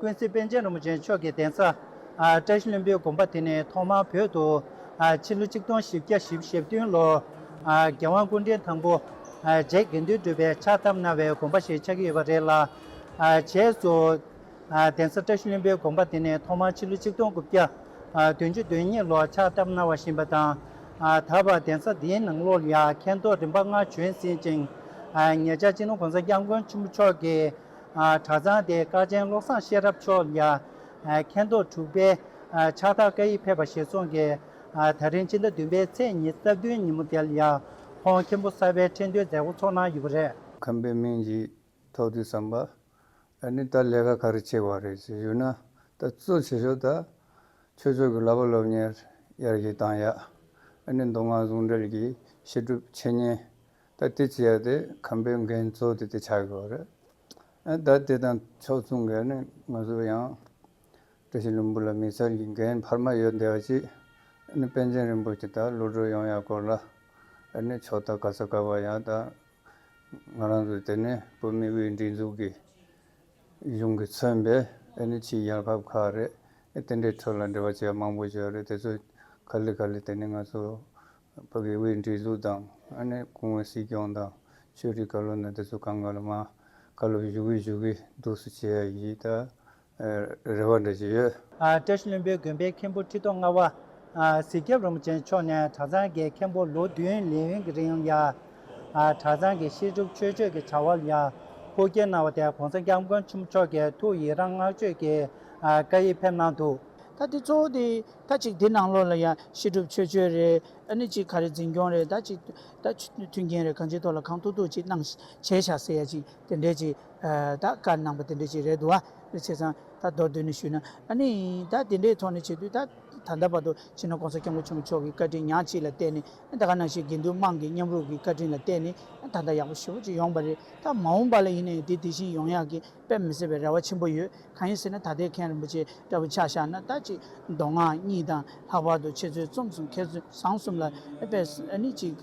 ཀུན་གཟིགས་པཎ་ཆེན་རིན་པོ་ཆེ་མཆོག་གི་གདན་ས། བཀྲ་ཤིས་བློན་པོའི་དགོན་པ་དེ་ནི་ཐོག་མར་བོད་དུ། ཕྱི་ལོ་ཆིག་སྟོང་བཞི་བརྒྱ་བཞི་བཞི་བདུན་ལོར། རྒྱལ་དབང་སྐུ་ཕྲེང་དང་པོ། རྗེ་དགེ་འདུན་གྲུབ་པས་ཕྱག་བཏབ་གནང་བའི་དགོན་པ་ཞིག་ཆགས་ཀྱི་ཡོད་པ་རེད་ལ། བྱས་སོ། གདན་ས་བཀྲ་ཤིས་བློན་པོའི་དགོན་པ་དེ་ནི་ཐོག་མར་ཕྱི་ལོ་ཆིག་སྟོང་དགུ་བརྒྱ། བདུན་ཅུ་དོན་གཉིས་ལོར་ཕྱག་བཏབ་གནང་བ་བཞིན་པ་དང། ད་བར་གདན་ས་འདིའི་ནང་ལོ་ལ་ཡར་མཁན་ཐོག་རིམ་པ་ལྔ་བྱོན་ཟིན་ཅིང། ཉེ་ཆར་སྤྱི་ནོར་གོང་ས་སྐྱབས་མགོན་ཆེན་པོ་མཆོག་གིས། གྲྭ་ཚང་དེ་སྐར་ཆེན་བློ་བཟང་ཤེས་རབ་མཆོག་མཇལ། མཁན་རྡོ་དྲུག་པས་ཕྱག་རྟགས་བཀའ་ཡིག་ཕེབས་པ་ཞེས་གསུངས་ཀྱི། ད་རིང་ཕྱི་ཟླ་བདུན་པའི་ཚེས་ཉིན་རྩ་བདུན་ཉིན་མོ་དེར་ཡང་ཁོང་མཁན་པོ་གསར་པའི་ཁྲི་འདོན་མཛད་སྒོ་འཚོགས་གནང་ཡོད་པ་རེད། ཁམས་པའི་མིང་ཞིག་ཐོགས་དུས་བསམ་པ། ཨ་ནི་ད་ལས་ཀ་ག་རེ་བྱེད་བ་རེད་ཞེས་ཞུས་ན། ད་གཙོ་བྱེད་ཤོག་ད། ཆོས་ཕྱོགས་ཀྱི་ལག་པ་སློབ་གཉེར་ཡར་གྱིས་བཏང་ཡག། ཨ་ནི་མདོ་སྔགས་ཟུང་འབྲེལ་གྱི་བཤད་སྒྲུབ་འཆད་ཉན། ད་དེ་བྱས་ཏེ་ཁམས་པའི་འགན་གཙོ་དེ་དེ་ཆགས་ཡོད་རེད། ད་དེ་དང་ཕྱོགས་མཚུངས་ཀྱི་ནི་ང་ཚོ་ཡང། བཀྲ་ཤིས་ལྷུན་པོ་ལ་མི་ཚར་གྱི་འགན་འཕར་མ་ཡོད་འདི་བ་ཅིག་ནི་པན་ཆེན་རིན་པོ་ཆེ་དང་བློ་གྲོས་ཡོང་ཡག་སྐོར་ལ་ནི་ཕྱོགས་ཐ་ག་ས་ག་བ་ཡང་ད་ང་རང་ཚོ་དེ་ནི་བོད་མི་དབུས་སྒྲིག་འཛུགས་ཀྱི་གཞུང་གི་མཚོན་པའི་ནི་ཕྱི་རྒྱལ་ཁབ་ཁག་རེད་དེ་འདྲའི་ཁྲོད་ལ་འབྲེལ་བ་བྱས་མང་པོ་བྱས་རེད་དེ་ཚོས་ག་ལི་ག་ལི་དེ་ནི་ང་ཚོ་བོད་དགེ་འོས་འདྲིས་ལུགས་དང་ཨ་ནེ་གུང་བའི་སྲིད་སྐྱོང་དང་ཆོས་རིག་བཀའ་བློན་དང་དེ་ཚོ་གང་ག་ལ་མ་བཀའ་སློབ་བཞུགས་གི་བཞུགས་གི་འདུག་སུ་བྱེད་ཡ་ཡིན་ད་རེ་བ་འདྲ་ཅི་ཡོད། ཀྲེ་ཤུ་བློན་པོའི་དགོན་པའི་མཁན་པོ་ཁྲི་ཐོག་ལྔ་བ། གཟིག་རྒྱབ་རིན་པོ་ཆེ་མཆོག་ནས་གྲྭ་ཚང་གི་མཁན་པོ་ལོ་བདུན་ལས་ཡུན་གྱི་རིང་ལ། གྲྭ་ཚང་གི་བཤད་སྒྲུབ་ཆོས་སྤྱོད་ཀྱི་བྱ་བ་ལ་ཧུར་སྐྱེད་གནང་བ་དེ་གོང་ས་སྐྱབས་མགོན་ཆེན་པོ་མཆོག་གི་ཐུགས་ཡིད་རང་བསྔགས་བརྗོད་ཀྱི་བཀའ་ཡིས་ཕེབས་གནང་འདུག། ད་དེ་གཙོ་བོ་དེ་ད་ཅིག་དེ་ནང་ལོགས་ལ་ཡང་བཤད་སྒྲུབ་ཆོས་སྤྱོད་རེད་ཨ་ནི་ཅིག་ག་རེ་འཛིན་སྐྱོང་རེད་ད་ཅིག་ད་མཐུན་རྐྱེན་རེད་གང་ཅིའི་ཐོག་ལ་གང་ཐུག་ཐུག་ཅིག་གནང་བྱས་བྱ་ཟེར་ཡ་ཅིག་དེ་འདྲས་ཅིག་ད་བཀའ་གནང་པ་དེ་འདྲས་ཅིག་རེད་འདུག་ཨ་རེ་བྱས་ཙང་ད་མདོར་བསྡུས་ནས་ཞུས་ན་ཨ་ནི་ད་དེ་འདྲའི་ཐོག་ནས་བྱེད་དུས་ད་ད་ལྟ་བར་དུ་ཕྱི་ནང ྋགོང་ས ྋསྐྱབས་མགོན་ཆེན་པོ་མཆོག་གི་བཀའ་དྲིན་ཉག་གཅིག་ལ་བརྟེན་ནས་ད་ག་ནང་བཞིན་དགེ་འདུན་དམངས་ཀྱི་མཉམ་རུབ་ཀྱི་བཀའ་དྲིན་ལ་བརྟེན་ནས་ད་ལྟ་ཡག་པོ་ཞེ་པོ་ཅིག་ཡོང་བ་རེད་ད་མ་འོངས་པ་ལ་ཡིན་ནའི་དེ་དེ་བཞིན་ཡོང་ཡག་གི་དཔེ་མི་སྲིད་པའི་རེ་བ་ཆེན་པོ་ཡོད། གང་ཡིན་ཟེར་ན་ད་ལྟའི་མཁན་རིན་པོ་ཆེ་འདྲ་བོ་ཆགས་བཞག་ན་ལྟ་ཅི། མདོ་སྔགས་གཉིས་དང་ལྷག་པར་དུ་འཆད་རྩོད་རྩོམ་གསུམ་མཁས་བཟང་གསུམ་ལ་དཔེ་ནི་གཅིག།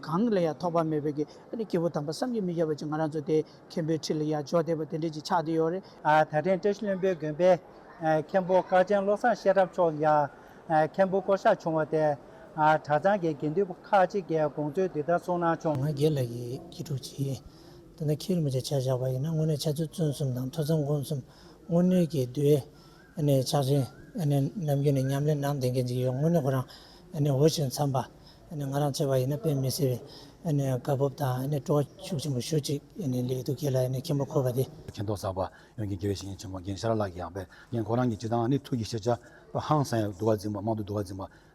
གང་ལ་ཡང་ཐོགས་པ་མེད་པའི་གི་ནི་སྐྱེས་བུ་དམ་པ་བསམ་གྱིས་མི་ཁྱབ་པ་ཅིག་ང་རང་ཚོ་དེའི་མཁན་པོའི་ཁྲི་ལ་ཡར་འཇོག་བསྡད་པ་དེ་འདྲས་ཅིག་ཆགས་བསྡད་ཡོད་རེད། ད་ཐེངས་བཀྲ་ཤིས་བློན་པོའི་དགོན་པའི་མཁན་པོ་སྐར་ཆེན་བློ་བཟང་ཤེས་རབ་མཆོག་ཡང་མཁན་པོ་བསྐོ་བཞག་བྱུང་བ་དེ། གྲྭ་ཚང་གི་དགེ་འདུན་པ་ཁག་ཅིག་གིས་དགོངས་ཚུལ་འདི་ལྟར་གསུངས་གནང་བྱུང། ང་རྒྱལ་ལ་ཡི་གེ་དྲུག་ཅིག། དེ་ནི་ཁས་ལེན་བྱ་ཆ་བཞག་པ་ཡིན་ན་དངོས་གནས་ཆ་ཚུལ་བཙོན་གསུམ་དང་ཐོས་བསམ་སྒོམ་གསུམ་དངོས་གནས་ཀྱི་བསྡུས་ནས་ཕྱག་ཆེན་ནམ་རྒྱུན་ནས་ཉམས་ལེན་གནང་བསྡད་མཁན་ཅིག་ཡོད་དངོས་གནས་ཁོ་རང་འོས་ཤིང་འཚམས་པ་ང་རང་ཆེ་བ་ཡིན་ན་དཔེ་མི་སྲིད་པའི་བཀའ་ཕོབ་དང་སྤྲོ་བ་ཤུགས་ཆེན་པོ་ཞུ་ཅིག་ལེགས་འདུག་ཁྱེད་ལ་མཁྱེན་པ་འཁོར་བ་དེ། མཁྱེན་རྟོགས་གསར་པ་ཡོང་རྒྱུའི་དགེ་བའི་བཤེས་གཉེན་ཆེན་མོ་རྒན་ཤར་ལགས་ཀྱི་ཡང་དཔེ་རྒན་ཁོ་རང་གིས་སྤྱི་དང་ནི་ཐུགས་ཀྱི་ཤེས་བྱ་ཕ་ཧང་སངས་ཡག་བསྡུ་བ་འཛིན་པ་མང་དུ་བསྡུ་བ་འཛིན་པ་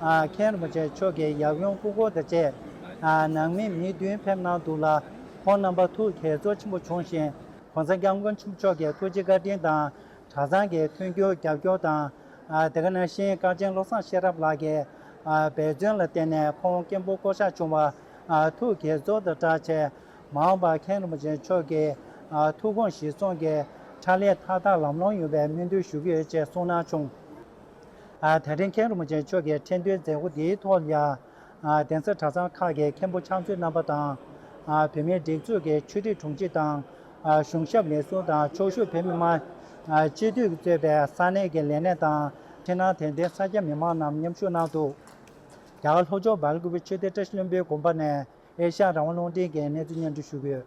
མཁན་རིན་པོ་ཆེ་མཆོག་གིས་ཡབ་ཡུམ་སྐུ་འཁོར་དང་བཅས་ནང་མི་མི་བདུན་ཕེབས་གནང་འདུག་ལ། ཁོང་རྣམ་པ་ཐུགས་དགྱེས་ཚོར་ཆེན་པོ་བྱུང་ཞིང་གོང་ས་སྐྱབས་མགོན་ཆེན་པོ་མཆོག་གི་ཐུགས་རྗེ་བཀའ་དྲིན་དང་གྲྭ་ཚང་གི་མཐུན་འགྱུར་རྒྱབ་སྐྱོར་དང། དེ་ག་ནང་བཞིན་བཀའ་ཆེན་བློ་བཟང་ཤེས་རབ་ལགས་ཀྱི་འབད་བརྩོན་ལ་བརྟེན་ནས་ཁོང་སྐྱེས་བུ་བསྐོ་གཞག་བྱུང་བ་ཐུགས་དགྱེས་ཚོར་དང་བཀྲ་ཆེ། མ་འོངས་པར་མཁན་རིན་པོ་ཆེ་མཆོག་གི་ཐུགས་དགོངས་གཞི་བཟུང་གིས་ཕྱག་ལས་མཐའ་དག་ལམ་ལྷོང་ཡོང་བའི་སྨོན་འདུན་ཞུ་གི་ཡོད་ཅེས་གསུངས་གནང་བྱུང། དེ་རིང་མཁན་རིན་པོ་ཆེ་མཆོག་གིས་ཁྲེང་ཏུའི་མཛད་སྒོ་དེའི་ཐོག་ཡང་གདན་ས་གྲྭ་ཚང་ཁག་གི་མཁན་པོ་ཕྱག་མཛོད་རྣམ་པ་དང། བོད་མིའི་སྒྲིག་འཛུགས་ཀྱི་ཆོས་རིག་དྲུང་ཆེ་དང། གཞུང་ཞབས་ལས་ཟུར་དང་ཕྱོགས་བཞུགས་བོད་མི་མང། སྤྱི་འཐུས་གཙོས་པའི་ས་གནས་ཀྱི་ལས་སྣེ་དང་འཕྲིན་ནང་དད་ལྡན་ས་སྐྱ་མི་མང་རྣམས་མཉམ་ཞུགས་གནང་འདུག་རྒྱ་གར་ལྷོ་ཕྱོགས་འབར་གུ་བོའི་ཆོས་སྡེ་བཀྲ་ཤིས་བློན་པོའི་དགོན་པ་ནས་ཨེ་ཤ་ཡ་རང་དབང་རླུང་འཕྲིན་གྱིས་གནས་ཚུལ་སྙན་སྒྲོན་ཞུས་ཡོད།